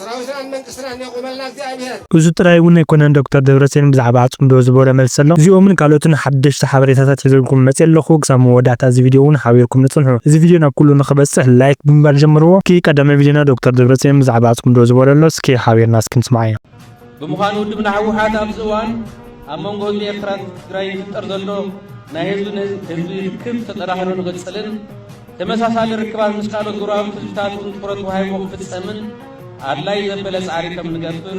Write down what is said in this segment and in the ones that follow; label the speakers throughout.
Speaker 1: ሰራዊትናን መንግስትናን የቁመልና
Speaker 2: እግዚኣብሔር። እዙ ጥራይ እውን ኣይኮነን ዶክተር ደብረፅዮን ብዛዕባ ፅምዶ ዝበሎ መልሲ ኣሎ እዚኦምን ካልኦትን ሓደሽቲ ሓበሬታታት ሒዘልኩም መፅየ ኣለኹ ክሳብ መወዳእታ እዚ ቪድዮ እውን ሓቢርኩም ንፅንሑ እዚ ቪድዮ ናብ ኩሉ ንኽበፅሕ ላይክ ብምባል ጀምርዎ እስኪ ቀዳማይ ቪድዮና ዶክተር ደብረፅዮን ብዛዕባ ፅምዶ ዝበሎ ኣሎ እስኪ ሓቢርና እስኪ ንስምዓዮ። ብምዃኑ
Speaker 3: ውድብና ህወሓት ኣብዚ እዋን ኣብ መንጎ ህዝቢ ኤርትራን ትግራይ ይፍጠር ዘሎ ናይ ህዝቢ ንህዝቢ ርክብ ተጠናኺሩ ንኽጽልን ተመሳሳሊ ርክባት ምስ ካልኦት ጎረባብቲ ህዝብታት እውን ትኹረት ወሃይዎ ክፍጸምን ኣድላይ ዘበለ ጻዕሪ ከም ንገብር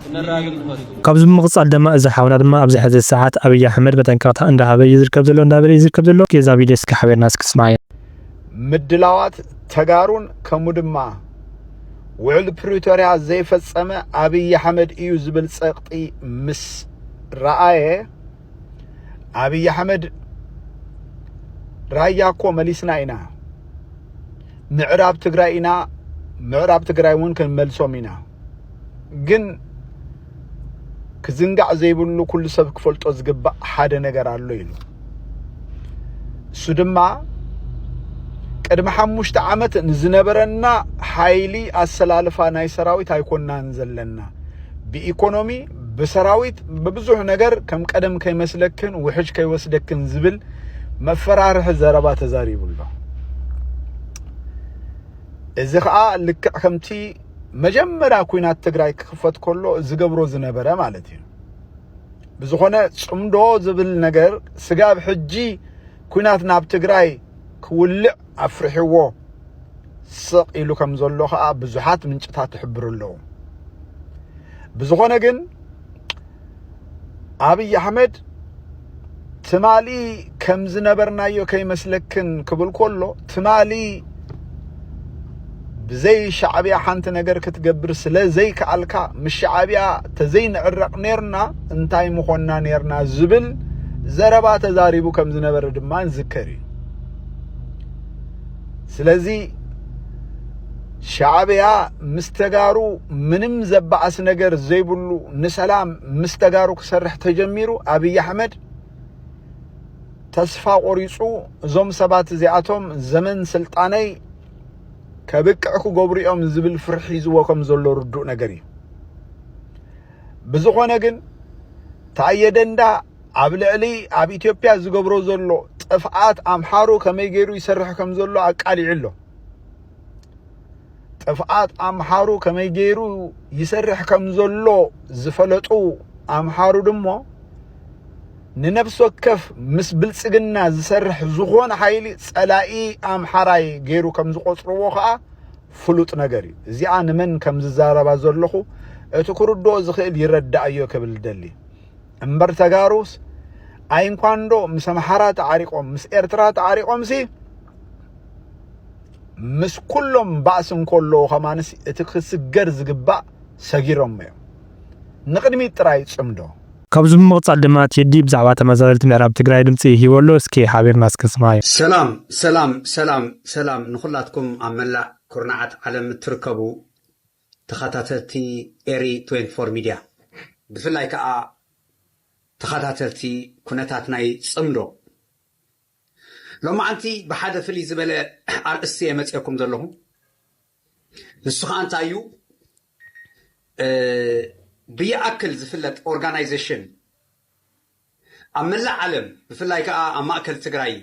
Speaker 3: ክነራግብ ንፈቱ። ካብዚ ብምቕጻል ደማ
Speaker 2: እዚ ሓውና ድማ ኣብዚ ሕዚ ሰዓት ኣብይ ኣሕመድ መጠንቀቕታ እንዳሃበ እዩ ዝርከብ ዘሎ እንዳበለ እዩ ዝርከብ ዘሎ። እስኪ እዛ ቪድዮ እስኪ ሓቢርና እስኪ ንስምዓያ። ምድላዋት
Speaker 4: ተጋሩን ከምኡ ድማ ውዕል ፕሪቶርያ ዘይፈጸመ ኣብይ ኣሕመድ እዩ ዝብል ጸቕጢ ምስ ረኣየ ኣብይ ኣሕመድ ራያ እኮ መሊስና ኢና ምዕራብ ትግራይ ኢና ምዕራብ ትግራይ እውን ክንመልሶም ኢና ግን ክዝንጋዕ ዘይብሉ ኩሉ ሰብ ክፈልጦ ዝግባእ ሓደ ነገር ኣሎ ኢሉ እሱ ድማ ቅድሚ ሓሙሽተ ዓመት ንዝነበረና ሓይሊ ኣሰላልፋ ናይ ሰራዊት ኣይኮናን ዘለና ብኢኮኖሚ ብሰራዊት ብብዙሕ ነገር ከም ቀደም ከይመስለክን ውሕጅ ከይወስደክን ዝብል መፈራርሒ ዘረባ ተዛሪቡ ኣሎ እዚ ከዓ ልክዕ ከምቲ መጀመርያ ኩናት ትግራይ ክኽፈት ከሎ ዝገብሮ ዝነበረ ማለት እዩ ብዝኾነ ጽምዶ ዝብል ነገር ስጋብ ሕጂ ኩናት ናብ ትግራይ ክውልዕ ኣፍርሕዎ ስቕ ኢሉ ከም ዘሎ ከዓ ብዙሓት ምንጭታት ይሕብሩ ኣለዉ ብዝኾነ ግን ኣብይ ኣሕመድ ትማሊ ከም ዝነበርናዮ ከይመስለክን ክብል ከሎ ትማሊ ብዘይ ሻዕብያ ሓንቲ ነገር ክትገብር ስለ ዘይከኣልካ ምስ ሻዕብያ ተዘይንዕረቕ ኔርና እንታይ ምኾና ኔርና ዝብል ዘረባ ተዛሪቡ ከም ዝነበረ ድማ ንዝከር እዩ ስለዚ ሻዕብያ ምስ ተጋሩ ምንም ዘባኣስ ነገር ዘይብሉ ንሰላም ምስ ተጋሩ ክሰርሕ ተጀሚሩ ኣብይ ኣሕመድ ተስፋ ቆሪፁ እዞም ሰባት እዚኣቶም ዘመን ስልጣነይ ከብቅዕ ክገብሩ እዮም ዝብል ፍርሒ ሒዝዎ ከም ዘሎ ርዱእ ነገር እዩ ብዝኾነ ግን ታየ ደንዳ ኣብ ልዕሊ ኣብ ኢትዮጵያ ዝገብሮ ዘሎ ጥፍኣት ኣምሓሩ ከመይ ገይሩ ይሰርሕ ከም ዘሎ ኣቃሊዑ ኣሎ ጥፍኣት ኣምሓሩ ከመይ ገይሩ ይሰርሕ ከም ዘሎ ዝፈለጡ ኣምሓሩ ድሞ ንነፍሲ ወከፍ ምስ ብልጽግና ዝሰርሕ ዝኾነ ሓይሊ ጸላኢ ኣምሓራይ ገይሩ ከም ዝቆጽርዎ ከዓ ፍሉጥ ነገር እዩ እዚኣ ንመን ከም ዝዛረባ ዘለኹ እቲ ክርድኦ ዝኽእል ይረዳእዮ ክብል ደሊ እምበር ተጋሩስ ኣይንኳንዶ ምስ ኣምሓራ ተዓሪቆም ምስ ኤርትራ ተዓሪቆምሲ ምስ ኩሎም ባእሲ እንከለዉ ከማንስ እቲ ክስገር ዝግባእ ሰጊሮሞ እዮም። ንቕድሚት ጥራይ ጽምዶ። ካብዚ ብምቕጻል ድማ ቴዲ ብዛዕባ ተመዛበልቲ ምዕራብ ትግራይ ድምጺ ሂቡ ኣሎ እስኪ ሓቢርና እስኪ ንስምዓዮ። ሰላም ሰላም ሰላም
Speaker 5: ሰላም ንኩላትኩም ኣብ መላእ ኩርናዓት ዓለም እትርከቡ ተኸታተልቲ ኤሪ ትዌንቲ ፎር ሚድያ ብፍላይ ከኣ ተኸታተልቲ ኩነታት ናይ ጽምዶ ሎማዓንቲ ብሓደ ፍልይ ዝበለ ኣርእስቲ እየ መፅኤኩም ዘለኹ ንሱ ከዓ እንታይ እዩ ብይኣክል ዝፍለጥ ኦርጋናይዜሽን ኣብ መላእ ዓለም ብፍላይ ከዓ ኣብ ማእከል ትግራይ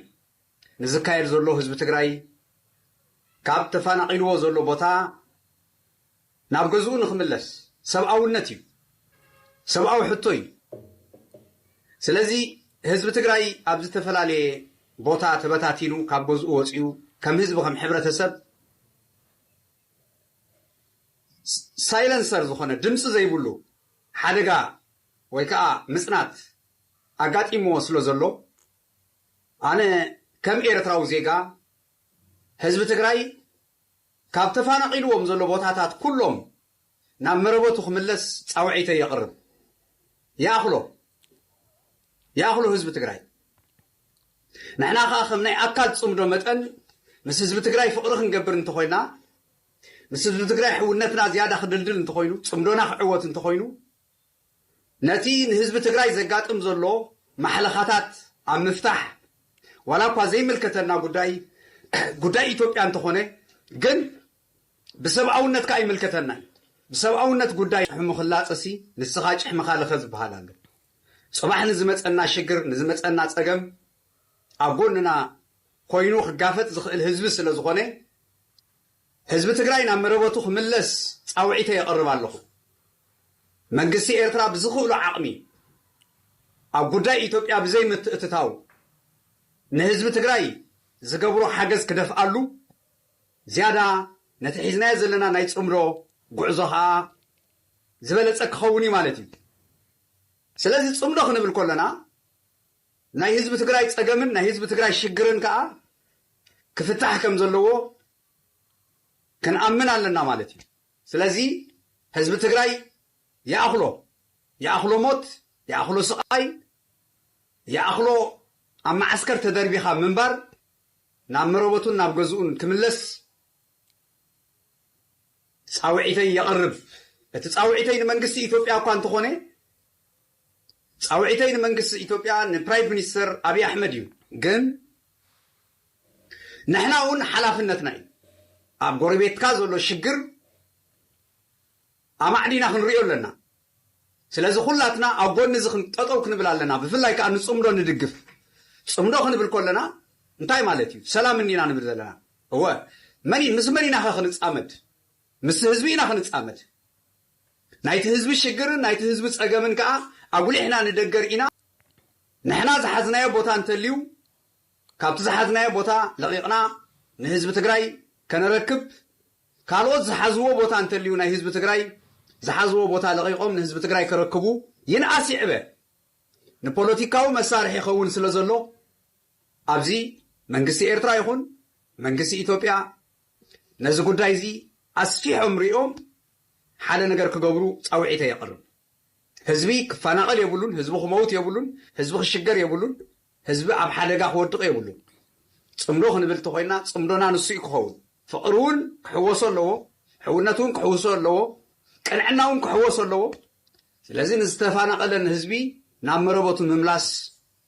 Speaker 5: ንዝካየድ ዘሎ ህዝቢ ትግራይ ካብ ተፋናቒልዎ ዘሎ ቦታ ናብ ገዝኡ ንክምለስ ሰብኣውነት እዩ ሰብኣዊ ሕቶ እዩ ስለዚ ህዝቢ ትግራይ ኣብ ዝተፈላለየ ቦታ ተበታቲኑ ካብ ገዝኡ ወፂኡ ከም ህዝቢ ከም ሕብረተሰብ ሳይለንሰር ዝኾነ ድምፂ ዘይብሉ ሓደጋ ወይ ከዓ ምፅናት ኣጋጢምዎ ስለ ዘሎ ኣነ ከም ኤርትራዊ ዜጋ ህዝቢ ትግራይ ካብ ተፋናቒልዎም ዘሎ ቦታታት ኩሎም ናብ መረበቱ ክምለስ ጻውዒተይ የቕርብ። ይኣኽሎ! ይኣኽሎ ህዝቢ ትግራይ! ንሕና ከኣ ከም ናይ ኣካል ጽምዶ መጠን ምስ ህዝቢ ትግራይ ፍቕሪ ክንገብር እንተኾይና፣ ምስ ህዝቢ ትግራይ ሕውነትና ዝያዳ ክድልድል እንተኾይኑ፣ ጽምዶና ክዕወት እንተኾይኑ፣ ነቲ ንህዝቢ ትግራይ ዘጋጥም ዘሎ ማሕለኻታት ኣብ ምፍታሕ ዋላ እኳ ዘይምልከተና ጉዳይ ጉዳይ ኢትዮጵያ እንተኾነ ግን ብሰብኣውነት ከኣ ይምልከተና እዩ። ብሰብኣውነት ጉዳይ ጭሕሙ ክላጸሲ ንስኻ ጭሕምኻ ልኸ ዝበሃል ኣሎ። ጽባሕ ንዝመጸና ሽግር ንዝመጸና ጸገም ኣብ ጎንና ኮይኑ ክጋፈጥ ዝኽእል ህዝቢ ስለዝኾነ ህዝቢ ትግራይ ናብ መረበቱ ክምለስ ፃውዒተይ የቕርብ ኣለኹ። መንግስቲ ኤርትራ ብዝኽእሎ ዓቕሚ ኣብ ጉዳይ ኢትዮጵያ ብዘይ ምትእትታው ንህዝቢ ትግራይ ዝገብሮ ሓገዝ ክደፍኣሉ፣ ዝያዳ ነቲ ሒዝናዮ ዘለና ናይ ፅምዶ ጉዕዞ ኸኣ ዝበለፀ ክኸውን እዩ ማለት እዩ። ስለዚ ፅምዶ ክንብል ከሎና፣ ናይ ህዝቢ ትግራይ ፀገምን ናይ ህዝቢ ትግራይ ሽግርን ከዓ ክፍታሕ ከም ዘለዎ ክንኣምን ኣለና ማለት እዩ። ስለዚ ህዝቢ ትግራይ ይኣኽሎ ይኣኽሎ ሞት ይኣኽሎ ስቓይ ይኣኽሎ ኣብ መዓስከር ተደርቢኻ ምንባር ናብ መረበቱን ናብ ገዝኡን ክምለስ ፃውዒተይ የቕርብ። እቲ ፃውዒተይ ንመንግስቲ ኢትዮጵያ እኳ እንተኾነ ፃውዒተይ ንመንግስቲ ኢትዮጵያ ንፕራይቭ ሚኒስተር ኣብይ ኣሕመድ እዩ ግን ንሕና እውን ሓላፍነትና እዩ ኣብ ጎረቤትካ ዘሎ ሽግር ኣማዕዲና ክንሪኦ ኣለና ስለዚ ኩላትና ኣብ ጎኒ እዚ ጠጠው ክንብል ኣለና ብፍላይ ከዓ ንፅምዶ ንድግፍ ፅምዶ ክንብል ኮለና እንታይ ማለት እዩ ሰላም እንዲና ንብል ዘለና እወ መን ምስ መን ኢና ከ ክንፃመድ ምስ ህዝቢ ኢና ክንፃመድ ናይቲ ህዝቢ ሽግርን ናይቲ ህዝቢ ጸገምን ከኣ ኣጉሊሕና ንደገ ርኢና ንሕና ዝሓዝናዮ ቦታ እንተልዩ ካብቲ ዝሓዝናዮ ቦታ ለቒቕና ንህዝቢ ትግራይ ከነረክብ ካልኦት ዝሓዝዎ ቦታ እንተልዩ ናይ ህዝቢ ትግራይ ዝሓዝዎ ቦታ ለቒቖም ንህዝቢ ትግራይ ከረክቡ ይንኣስ ይዕበ ንፖለቲካዊ መሳርሒ ይኸውን ስለ ዘሎ ኣብዚ መንግስቲ ኤርትራ ይኹን መንግስቲ ኢትዮጵያ ነዚ ጉዳይ እዚ ኣስፊሖም ሪኦም ሓደ ነገር ክገብሩ ጻውዒተይ የቕርብ። ህዝቢ ክፋናቐል የብሉን፣ ህዝቢ ክመውት የብሉን፣ ህዝቢ ክሽገር የብሉን፣ ህዝቢ ኣብ ሓደጋ ክወድቕ የብሉን። ጽምዶ ክንብል እንተኾይንና ጽምዶና ንሱ እዩ ክኸውን። ፍቕሪ እውን ክሕወሶ ኣለዎ፣ ሕውነት እውን ክሕውሶ ኣለዎ፣ ቅንዕና እውን ክሕወሶ ኣለዎ። ስለዚ ንዝተፋናቐለ ንህዝቢ ናብ መረበቱ ምምላስ፣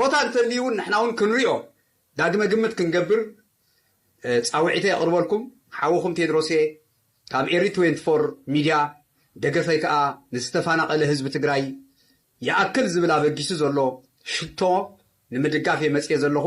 Speaker 5: ቦታ እንተልዩ ውን ንሕና ውን ክንሪኦ ዳግመ ግምት ክንገብር ጻውዒተይ ኣቕርበልኩም ሓውኹም ቴድሮስየ ካብ ኤሪ ትዌንቲ ፎር ሚድያ ደገፈይ ከኣ ንዝተፋናቐለ ህዝቢ ትግራይ ይኣክል ዝብል ኣበጊሱ ዘሎ ሽቶ ንምድጋፍ እየ መጽየ ዘለኹ።